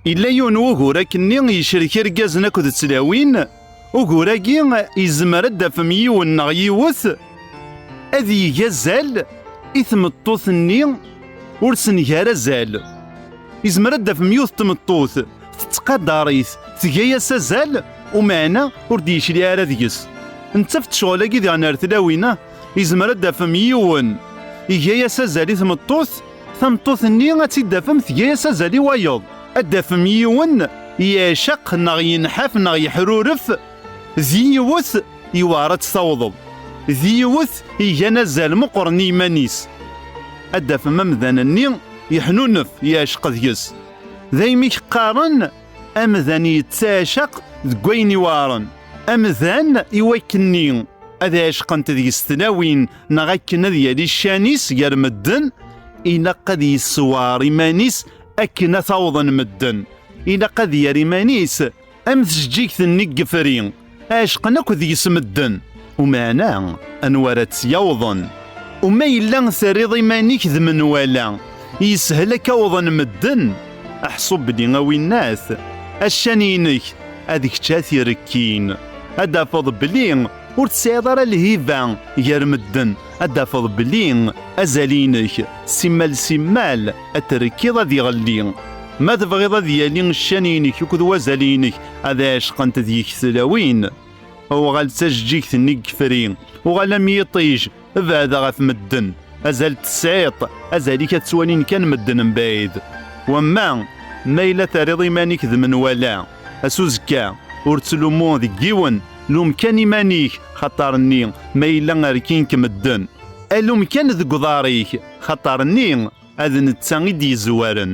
Yella yiwen n wugur akenni yecrek irgazen akked tlawin, ugur-agi yezmer ad d-afem yiwen neɣ yiwet ad yeg azal i tmeṭṭut-nni ur s-nga ara azal. Yezmer ad d-afem yiwet n tmeṭṭut tettqadar-it, tga-yas azal, umeɛna ur d-yecliɛ ara deg-s. Nettaf-d ccɣel-agi diɣen ar tlawin-a, yezmer ad d-afem yiwen iga-yas azal i tmeṭṭut, Tameṭṭut-nni ad tt-id-tafem tga-as azal i wayeḍ. Ad d-tafem yiwen yeɛceq neɣ yenḥaf neɣ yeḥruref, d yiwet yewɛer ad tt-tawḍeḍ, d yiwet igan azal meqqren i yiman-is. Ad d-tafem amdan-nni yeḥnunef, yeɛceq deg-s. Daymi i k-qqaren amdan yettaɛcaq deg wayen iweɛren. Amdan iwakken-nni ad ɛecqent deg-s tlawin neɣ akken ad yali ccan-is gar medden ilaq ad yessewɛer iman-is akken ad t-awḍen medden ilaq ad yer iman-is am tjeǧǧigt-nni n yefri ɛecqen akk deg-s medden umeɛna anwa ara tt-yawḍen uma yella terriḍ iman-ik d menwala yeshel akka awḍen medden aḥṣu belli a winnat accan-inek ad kečč ad t-irekkin ad d-tafeḍ belli Ur tesɛiḍ ara lhiba gar medden, ad d-tafeḍ belli azal-inek simmal simmal ad t-rekkiḍ ad iɣelli. Ma tebɣiḍ ad yali ccan-inek akked wazal-inek ad ɛecqent deg-k tlawin, uɣal d tajeǧǧigt-nni deg yefri, uɣal am yiṭij Beɛda ɣef medden, azal tesɛiḍ, azal-ik ad ttwalin kan medden mebɛid. Wamma, ma yella terriḍ iman-ik d menwala, ass uzekka, ur ttlummu deg yiwen, lum kan iman-ik, xaṭer nni ma yella rkin-k medden, alum kan deg uḍar-ik, xaṭer nni ad netta i d-yezwaren.